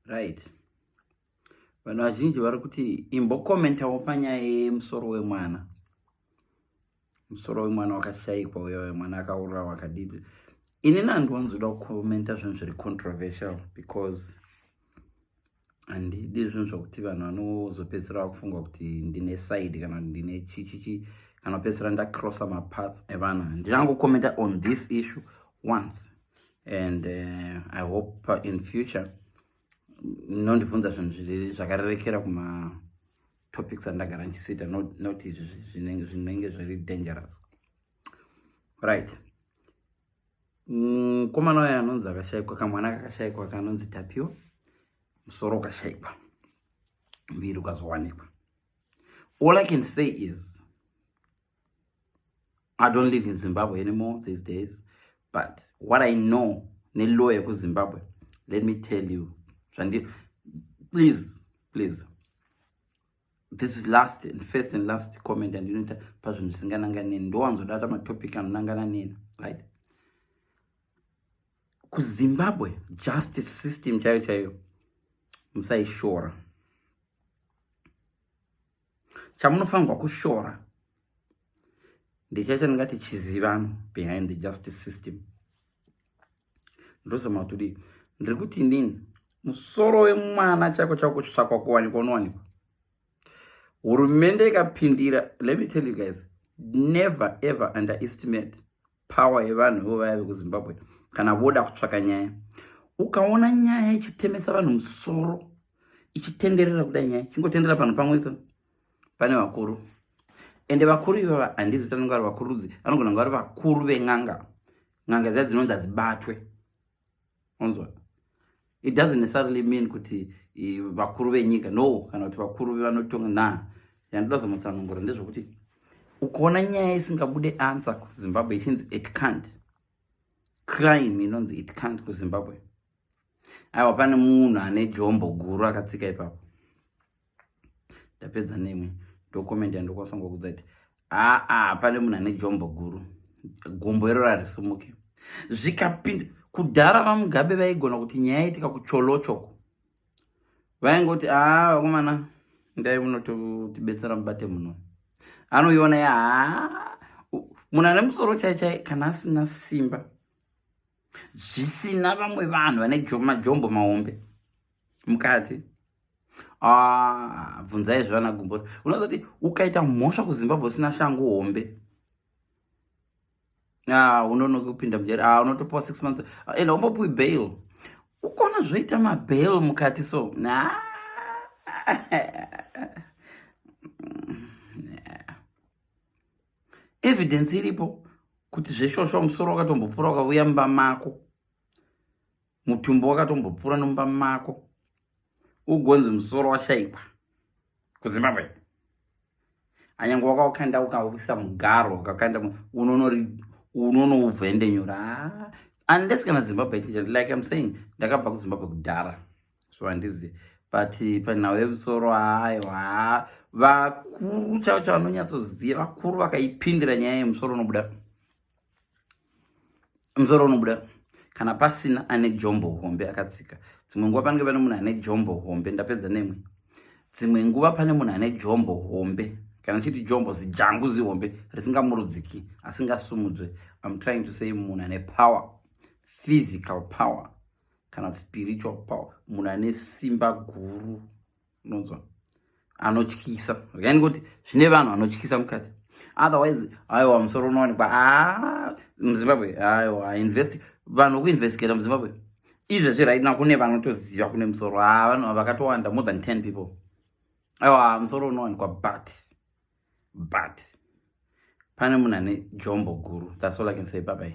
right vanhu vazhinji vari kuti imbokomentawo panyaya yemusoro wemwana musoro wemwana wakashaikwa uyo wemwana akaurira wakadii inini handiwanzoda kukomenta zvinhu zviri controversial because handidi zvinhu zvokuti vanhu vanozopedzisira vakufunga kuti ndine side kana kuti ndine chichichi kana kupedzisira ndacrossa mapath evanhu ndichangocommenta on this issue once and uh, i hope uh, in future nondibvunza zvinhu zviri zvakarerekera kumatopics andagara ndichisita not izvi zvinenge zviri dangerous right mukomana uya anonzi akashaikwa kamwana kakashaikwa kanonzi tapiwa musoro ukashaikwa muviri ukazowanikwa all i can say is i don't live in zimbabwe anymore these days but what i know nelow yekuzimbabwe let me tell you zvandi please please this is last and first and last comment andinoita pazvinhu zvisinganangani neni ndowanzodata matopic anonangana neni right kuzimbabwe justice system chaiyo chaiyo musaishora chamunofanirwa kushora ndichaicha ndingati chizivano behind the justice system ndozama kuti dii ndiri kuti inini musoro wemwana chako chako kutsvakwa kuwanikwa unowanikwa hurumende ikapindira let me tell you guys never ever underestimate power yevanhu ivo vaya vekuzimbabwe kana voda kutsvaka nyaya ukaona nyaya ichitemesa vanhu musoro ichitenderera kuda nyaya chingotenderera panhu pamwe to pane vakuru ende vakuru ivava handizi tanonga vari vakurudzi anogona kunga vari vakuru ven'anga n'anga dziya dzinonzi hadzibatwe onzwa it doesn't necessarily mean kuti vakuru venyika no kana kuti vakuru vevanotonga na yandoda zamutsanangura ndezvekuti ukaona nyaya isingabude ansa kuzimbabwe ichinzi it cant crime inonzi it cant kuzimbabwe aiwa pane munhu ane jombo guru akatsika ipapo ndapedza nemwe ndokomenti yandokwanisa ngokudza kuti aa pane munhu ane jombo guru gombo iro rarisumuke zvikapinda kudhara vamugabe vaigona kuti nyaya yaitika kucholochoko vaingoti aa vakomana ndai munotibetsera mubate muno anoiona ya munhu ane musoro chaichai kana asina simba zvisina vamwe vanhu vane majombo mahombe mukadzi ah, bvunzai ah, zvivana gumbota unoziva kuti ukaita mhosva kuzimbabwe usina shangu hombe ah, unonoki kupinda mujeri ah, unotopiwa six months ah, enda umbopiwi bail ukona zvoita mabail mukati so nah. evidence iripo kuti zvesvosva musoro wakatombopfura ukavuya mumba mako mutumbi wakatombopfura nomumba mako ugonzi musoro washaikwa kuzimbabwe anyange wakaukanda ukaisa mugaro ukakanda unonori unonouvhende nyora ah, unless kana zimbabwe kitchen like im saying ndakabva kuzimbabwe kudhara so handizi but panhau yemusoro hayo ha vakuru chavo chavanonyatsoziva vakuru vakaipindira nyaya yemusoro unobuda musoro unobuda kana pasina ane jombo hombe akatsika dzimwe nguva panenge pane munhu ane jombo hombe ndapedza nemwe dzimwe nguva pane munhu ane jombo hombe kana chiti jombo zijangu zihombe risingamurudziki asingasumudzwe im trying to say munhu ane power physical power kana spiritual power munhu ane simba guru unonzwa anotyisa yani kuti zvine vanhu anotyisa mukati otherwise aiwa musoro unowanikwa ah, muzimbabwe aiwa invest vanhu vekuinvestigata muzimbabwe izvezvi right now kune vanotoziva kune musoro ah, vanhu vakatowanda more than ten people aiwa musoro unowanikwa but but pane munhu ane jombo guru that's all i can say babai